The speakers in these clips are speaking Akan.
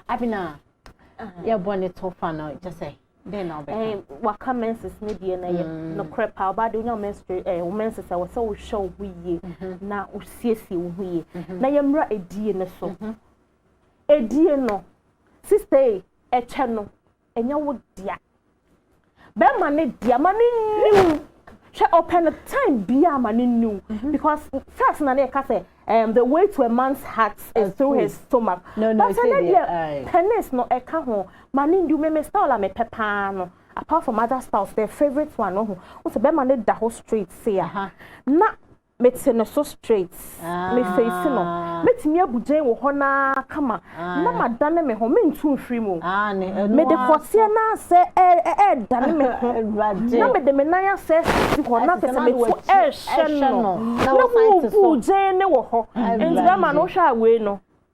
Abena, yɛ bɔ ne tɔfa no kyɛ sɛ dɛn na ɔbɛka. Eh, waka menses ne deɛ na yɛ mm. nokorɛ paa ɔbaa de wonya menstrate eh, wo menses a wɔ sɛ wohwɛ wo ho yie mhm. na wosiesie wo ho yie mhm. na yɛmmra ɛdie no so ɛdie mhm. no sista yi ɛkyɛ no ɛnyɛ wo dea bɛrima ne dea ma ne niw hwɛ ɔpɛ no time biara ma ne niw mhm. because first na ne yɛka sɛ um, the way to a man's heart is through his stomach no, no, but ɛnɛ deɛ penis no ɛka ho ma ne niw meme style a mepɛ paa no apart from other styles their favorite one no ho wosɛ bɛrima ne da hɔ straight se a na Mete no so straight. Me face no. Mɛtumi abu gyɛn wɔ hɔ no ara kama na madane me ho, mentu mfiri mu. Mede kɔteɛ no asɛ ɛredane me ho, na mede me nan asɛ si hɔ na kyerɛ sɛ metu ɛrehyɛ no. Na wobu gyɛn no wɔ hɔ. Nti bɛrima no, wohwɛ a wei no,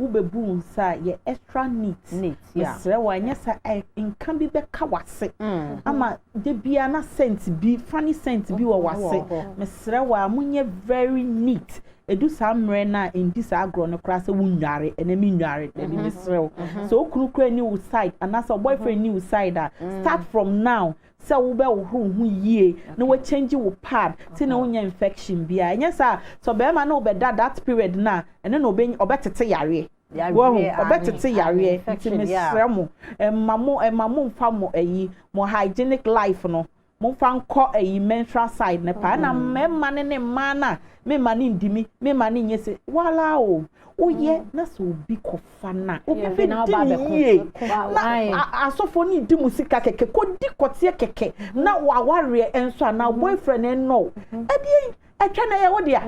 wobɛbu nsa a yɛ extra neat mesrɛ wo anyɛ sa nka bi bɛka wase mm. ama da biara na scent bi funny scent bi wɔ wase mesrɛ wo a monyɛ very neat ɛdu saa mmerɛ no a ɛndi saa agorɔ no koraa sɛ wonware ɛnɛ menware dabi mesrɛ wo sɛ wo kunu kora ni wo side anaasɛ boyfriend ni wo side a start from now mm. sɛ wobɛhohoro wo ho yie na wakyɛngye wo pad te na wonyɛ infection biara ɛnyɛ saa a sɛ ɔbarima ne wobɛda that period no a ɛno na ɔbɛtete yareɛ wahu ɔbɛtete yareɛ nti mesrɛ mo ɛma mo ɛma mo mfa mo ayi mo hygienic life no momfa nkɔ ayi menstrual side no paa na mmarima ne ne mmaa no a memma ne ndimi memma ne nyɛ se wala o woyɛ na sɛ obi kɔfa no a obi bɛdi ne yie na asɔfoɔ no di mu sika kɛkɛ kɔdi kɔteɛ kɛkɛ na wawareɛ nso a na boyfriend ɛnɔ ɛdeɛ ɛtwa na ɛyɛ wo deɛ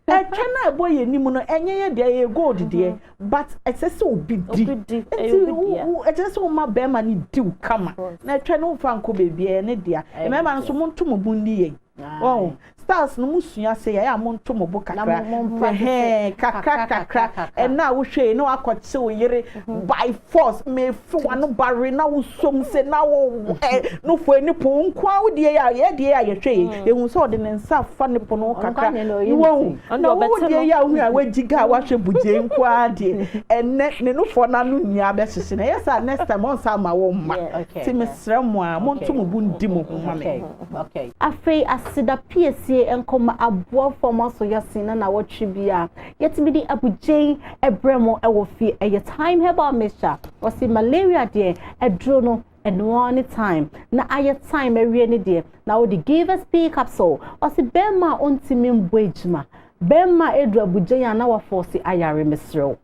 ɛtwa na ɛbɔ yɛ anim no ɛnyɛ yɛ deɛ ɛyɛ gold deɛ but ɛsɛ sɛ obi di nti ɛsɛ sɛ woma bɛrima no diw kama na ɛtwa no mfa nkɔ baabi ɛyɛ ne deɛ mmarima nso monto mo bo nni yɛn Wɔn styles no mo sua sɛ yɛyɛ a mo nto mo bo kakra hɛn kakra kakra ɛna a wohwɛ yi na wakɔ kye wo yere mm-hmm. by force mefe wano bare na wosom sɛ na wo ɛ no fo ani po nkoa wo deɛ yɛ yɛ deɛ yɛ yɛhwɛ yi mm. yɛhu sɛ ɔde ne nsa fa ne po no kakra wɔn na wo deɛ yɛ ahu a wagyi ga a wahwɛ bugye nkoa deɛ ɛnɛ ne no fo na no nua bɛhyehye na ɛyɛ sɛ next time ɔnsa ama wo mma ti mesrɛ mo a monto mo bo ndi mo ho ma me. Okay. afei aseda piesie nkɔma aboa fam aso yɛsen na nawɔtwe bi a yɛtumi de abugyen ɛbrɛ mo ɛwɔ fie ɛyɛ time herbal mixture wɔsi malaria deɛ ɛduro no ɛnoa ne time na ayɛ time awie ne deɛ na wɔde give us p capsule wɔsi bɛrima a ɔntumi mbɔ adwuma bɛrima edu abugyen a na wafɔɔsi ayare mesrɛw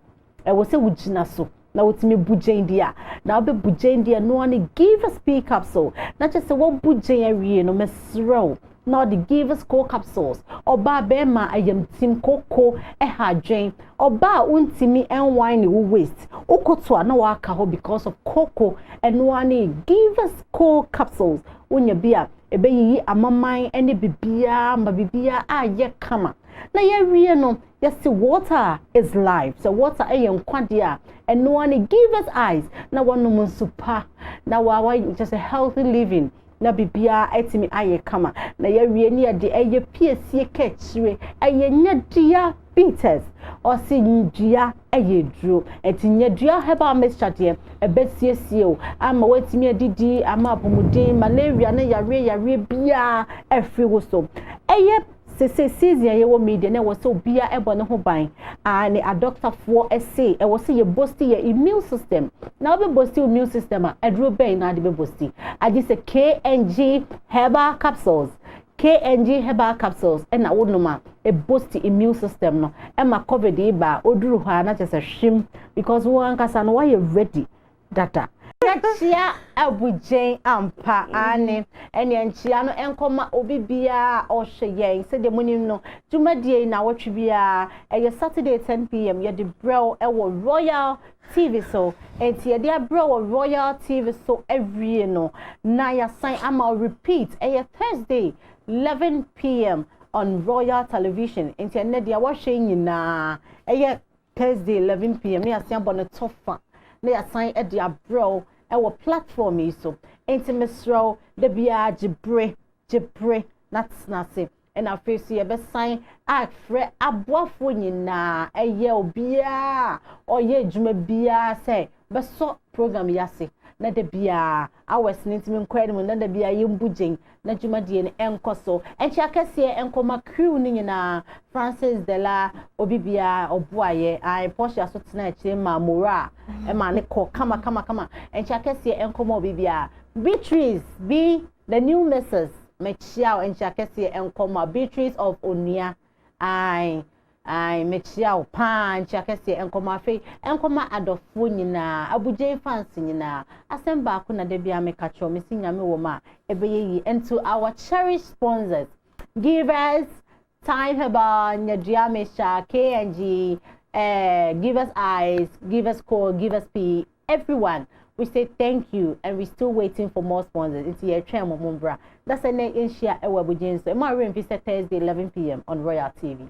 ɛwɔ sɛ wogyina so na wotumi bu gyɛn di a na wobɛbu gyɛn di a no ɔne give us pee capsule na kyɛ sɛ wɔbu gyɛn awie no mesrɛ wo na ɔde give us co capsules ɔbaa bɛrima ayamtim koko ɛha adwen ɔbaa wontumi ɛnwan ne wo waste wokoto a na waka hɔ because of koko ɛno ɔne give us co capsules wonya bi a ɛbɛyiyi amaman ne bibiaa ma bibiaa ayɛ kama na yɛawie no yɛse water is life sɛ water yɛ nkwadeɛ a ɛnoa ne give us eyes na wanom nsu pa na wawa kyɛ sɛ healthy living na biribiara atumi ayɛ kama na yɛawie ne yɛde ɛyɛ piesie kɛkyire ɛyɛ nyɛdua bitters ɔsi dua ɛyɛ duro ɛti nyɛdua herbal mixture deɛ ɛbɛsiesie o ama watumi adidi ama apɔmuden malaria ne yareɛ yareɛ biara afiri wo so ɛyɛ Sese season a yɛwɔ mu yi deɛ na ɛwɔ sɛ obiara ɛbɔ ne ho ban aa ne adɔktafoɔ ɛse ɛwɔ sɛ yɛ bosti yɛ immune system na ɔbɛ bosti immune system a aduro bɛn na ade bɛ bosti agye sɛ KNG herbal capsules KNG herbal capsules ɛna wonom a ɛbosti immune system no ɛma covid yi ba a oduru hɔ a na kyɛ sɛ hwim because wɔn ankasa no wɔayɛ ready dada. Na kyia abugyen ampa, aane, ɛneɛ nkyia no nkɔma obi biara a ɔhwɛ yɛn. Sɛdeɛ monim no, dwumadie yi nawɔtwe biara, ɛyɛ Saturday 10pm, yɛde brɛ wo wɔ Royal TV so. Enti yɛde abrɛ wɔ Royal TV so awie no, na yɛasan ama wo repeat, ɛyɛ Thursday 11pm on Royal Television. Enti ɛnnɛ deɛ wɔhwɛ nyinaa ɛyɛ Thursday eleven pm na yɛasan abɔ no to fa na yɛasan de abrɛ wo wɔ platform yi so nti mesrɛ wo da biara gye bere gye bere na tena ase ɛna afei so yɛbɛsan afrɛ aboafoɔ nyinaa ɛyɛ obiara ɔyɛ adwuma biara sɛ bɛsɔ program yi ase na da biara hours no ntumi nkɔ anim na da biara yɛmbu gyen na dwumadie no ɛnkɔ so ɛnkyɛ akɛseɛ nkɔma crew no nyinaa francis dela obi biara ɔboayɛ ae portia so tena akyire ma mora a ɛma ne kɔ kama kama kama ɛnkyɛ akɛseɛ nkɔma obi biara beatrice bi the new mrs mekyia o ɛnkyɛ akɛseɛ nkɔma beatrice of onua ae Ae mekyia wo paa nkyia kɛseɛ ɛnkɔmɔ afei ɛnkɔma adɔfoɔ nyinaa abugyen fans nyinaa asɛm baako na dabiaa meka kyerɛ mesi nyame wɔ mu a ɛbɛyɛ yie and to our cherish sponsors give us time herbal nyadua mixture kng eh, give us eyes give us core give us pee Everyone we say thank you and we still waiting for more sponsors nti yɛtwɛn mo mo mbra na sɛ nɛ yɛnhyia ɛwɔ abugye nso ɛmu awerɛ mfi sɛ thursday 11 pm on royal tv